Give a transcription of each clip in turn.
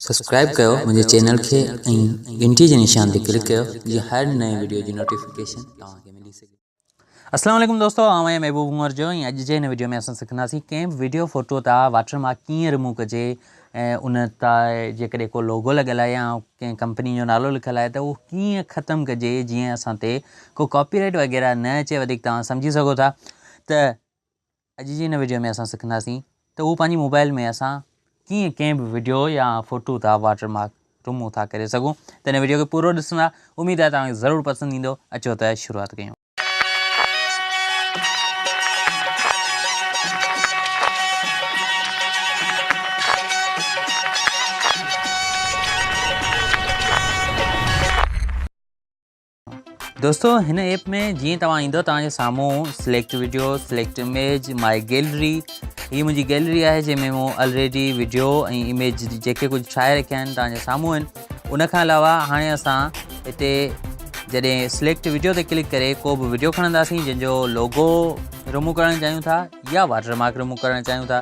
Subscribe ڪيو منهنجي channel کي ۽ گهنٽي جي نشان تي ڪلڪ ڪيو جيئن هر نئين وڊيو جي نوٽيفڪيشن توهان کي ملي سگهي السلام عليڪم دوستو آئون آهيان محبوب عمر جو ۽ اڄ جي هن وڊيو ۾ اسان سکنداسين ڪنهن به وڊيو فوٽو تان واٽر مارڪ ڪيئن رموو ڪجي ۽ ان تان جيڪڏهن ڪو لوگو لڳل آهي يا ڪنهن ڪمپني جو نالو لکيل آهي ته اهو ڪيئن ختم ڪجي جيئن اسان تي ڪو ڪاپي رائيٽ وغيره نه اچي وڌيڪ توهان سمجهي سگهو ٿا ته اڄ جي هن وڊيو ۾ اسان سکنداسين ته هو پنهنجي موبائل ۾ اسان ڪيئن ڪنهن به وڊيو يا فوٽو تان واٽر مارڪ رمو ٿا ڪري سگهون ته هن وڊيو کي پورو ڏسندا اميد آهي توهان کي ضرور پسند ايندو اچو ته شروعات ڪيون دوستو هن ايپ ۾ جيئن توهان ايندو توهان جي سامهون select video select image my gallery هي منهنجي گيلري آهي جنهن ۾ مون آلريڊي ويڊيو ۽ اميج جيڪي ڪجهه ٺاهي رکيا آهن توهان جي سامهون آهن ان کان علاوه هاڻي اسان هتي جڏهن سليڪٽ ويڊيو تي ڪلڪ ڪري ڪو به ويڊيو کڻنداسين جنهن جو لوگو رمو ڪرڻ چاهيون ٿا يا واٽر مارڪ رمو ڪرڻ چاهيون ٿا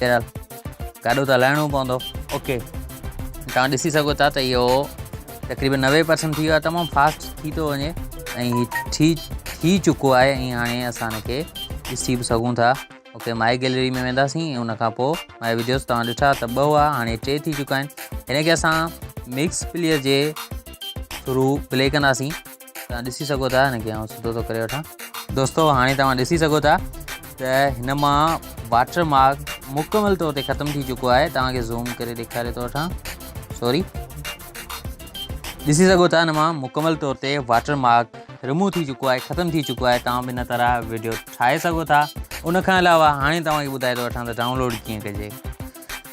بهرحال گاڏو ته هلائڻو پوندو. اوڪي توهان ڏسي سگهو ٿا ته اهو تقريبن نوي پرسنٽ ٿي ويو آهي تمام فاسٽ ٿي ٿو وڃي ۽ هي ٿي ٿي چڪو آهي ۽ هاڻي اسان هن کي ڏسي به سگهون ٿا اوڪي مائي گيلري ۾ وينداسين ۽ ان کان پوء مائي ويڊيوز توهان ڏٺا ته ٻه هئا هاڻي ٽي ٿي چڪا آهن هن کي اسان مڪس پليئر جي ٿرو پلي ڪنداسين توهان ڏسي سگهو ٿا هن کي آئون سڌو ٿو ڪري وٺان دوستو هاڻي توهان ڏسي سگهو ٿا ته هن مان واٽر مارڪ مڪمل طور تي ختم ٿي چڪو آهي توهان کي زوم ڪري ڏيکاري ٿو وٺان سوري ڏسي سگهو ٿا هن مان مڪمل طور تي واٽر مارڪ رمو ٿي چکو آهي ختم ٿي چکو آهي تمام ان طرح ويڊيو ٺاهي سگهو ٿا ان کان علاوه هاڻي توهان کي ٻڌائي ٿو وٺان ته ڊائونلوڊ ڪيئن ڪجي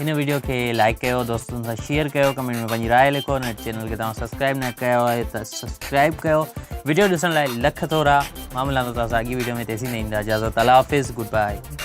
هن ويڊيو کي لائڪ ڪيو دوستن سان شيئر ڪيو ڪمينٽ ۾ پنهنجي راء لکو هن چينل کي توهان سبسڪرائب نه ڪيو آهي ته سبسڪرائب ڪيو ويڊيو ڏسڻ لاء لک ٿورا معاملات تازا اڳي ويڊيو ۾ تيسين ڏيندا اجازت الله حافظ گڊ بائي